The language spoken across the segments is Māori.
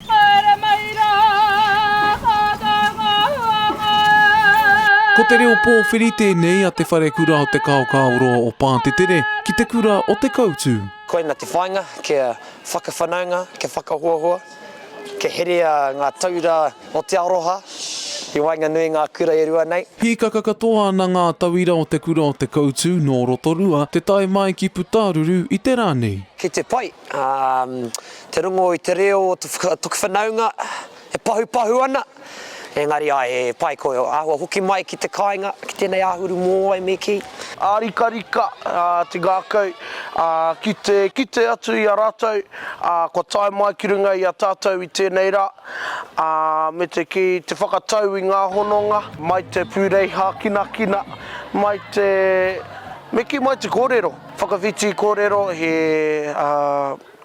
Haere mai rā, ata ngā huanga. Ko te reo pōwhiri tēnei a Te Wharekura o Te Kaokaoroa o Pātetere ki te kura o Te Koutu. Koina te whāinga kia whakawhanaunga, kia whakahoahoa, kia herea ngā taura o te aroha i waenganui i ngā kura e rua nei. Hīkaka katoa ana ngā tauira o te kura o Te Koutu nō Rotorua te tae mai ki Putaruru i te rā nei. Ki te pai, te rongo i te reo o toku whanaunga e pahupahu ana, engari ae he pai koe ahua hoki mai ki te kainga ki tenei ahuru moai me ki. Arikarika te ngakau ki te kite atu i a ratou kua tae mai ki runga i a tatou i tenei ra me te ki te whakatau i nga hononga mai te purei hakinakina mai te me ki mai te korero. Whakawhiti kōrero, he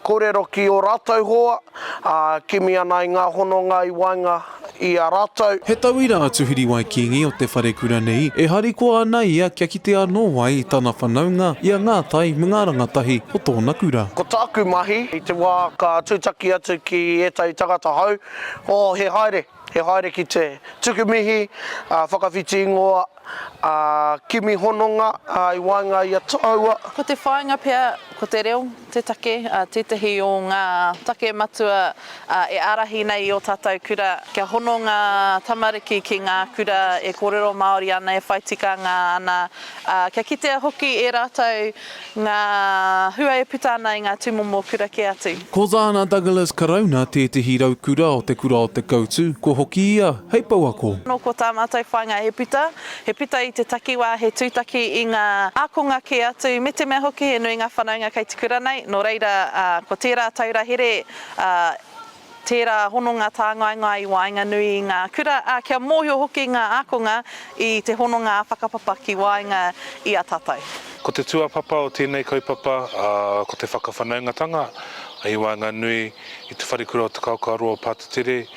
kōrero ki ō rātou hoa, ā, kimi ana i ngā hononga i waenga i a rātou. He tauira a Tuhiriwai Kingi o te wharekura nei e harikoa ana ia kia kite anō ai i tana whanaunga, i a Ngā Tai me ngā rangatahi o tōna kura. Ko tāku mahi, i te wā ka tūtaki atu ki ētahi tangata hou, oh, he haere, he haere ki te tuku mihi, ā, whakawhiti ingoa, Ā, kimi hononga, ā, i waenga i a Toua. Ko te whāinga pea, ko te reo te take, ā, tētahi o ngā take matua, ā, e ārahi nei i ō tātou kura, kia hono ngā tamariki ki ngā kura e kōrero Māori ana, e whai tikanga ana, ā, kia kitea hoki e rātou Ngā hua e puta ana i ngā tūmomo kura kē atu. Ko Dana Douglas Karauna tētehi raukura o te kura o Te Koutu, kua hoki ia hei pouako. Nō ko tā mātou whāinga he puta, he puta i te takiwā, he tūtaki i ngā ākonga kē atu, me te mea hoki he nui ngā whanaunga kei te kura nei, nō reira ko tērā taura here Tērā hononga tāngaengae i waenganui i ngā kura, ā, kia mōhio hoki ngā ākonga i te hononga ā-whakapapa ki waenga i a tātou. Ko te tūāpapa o tēnei kaupapa ko te whakawhanaungatanga i waenganui i Te Wharekura o Te Kaokaroa o Patutere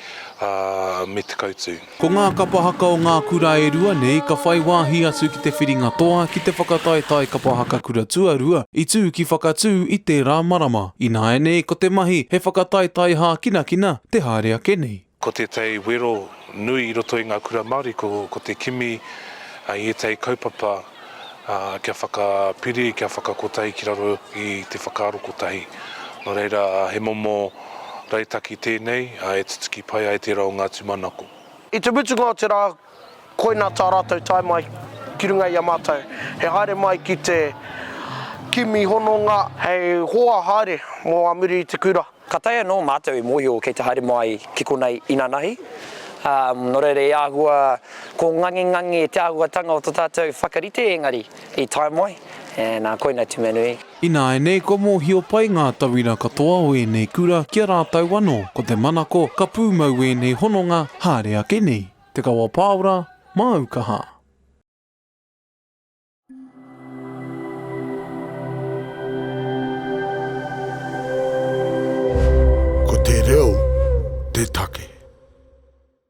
me Te Kautū. Ko ngā kapa haka o ngā kura e rua nei ka whai wāhi atu ki te whiringa toa ki te whakataetae kapa haka kura tuarua i tū ki Whakatū i tērā marama. Ināianei ko te mahi he whakataetae hākinakina te haere ake nei. Ko tētahi wero nui i roto i ngā kura Māori ko te kimi i ētahi kaupapa kia whakapiri, kia whakakotahi ki raro i te whakaaro kotahi. Nō reira, he momo rautaki tēnei e tutuki pai ai tērā o ngā tūmanako. I te mutunga o te rā, koinā tā rātou tae mai ki runga i a mātou, he haere mai ki te kimi hononga hei hoa haere mō a muri i te kura. Ka taea anō mātou e mōhio kei te haere mai ki konei inanahi, ā, nō reira e āhua ko ngangengange te āhuatanga o tō tātou whakarite engari i tae mai, ē, nā, koina atu mea nui. Ināianei kua mōhio pai ngā tauira katoa o ēnei kura ki a rātou anō, ko te manako ka pūmau ēnei hononga haere ake nei. Te Kawa Pāora, Māu Kaha. Ko te reo te take.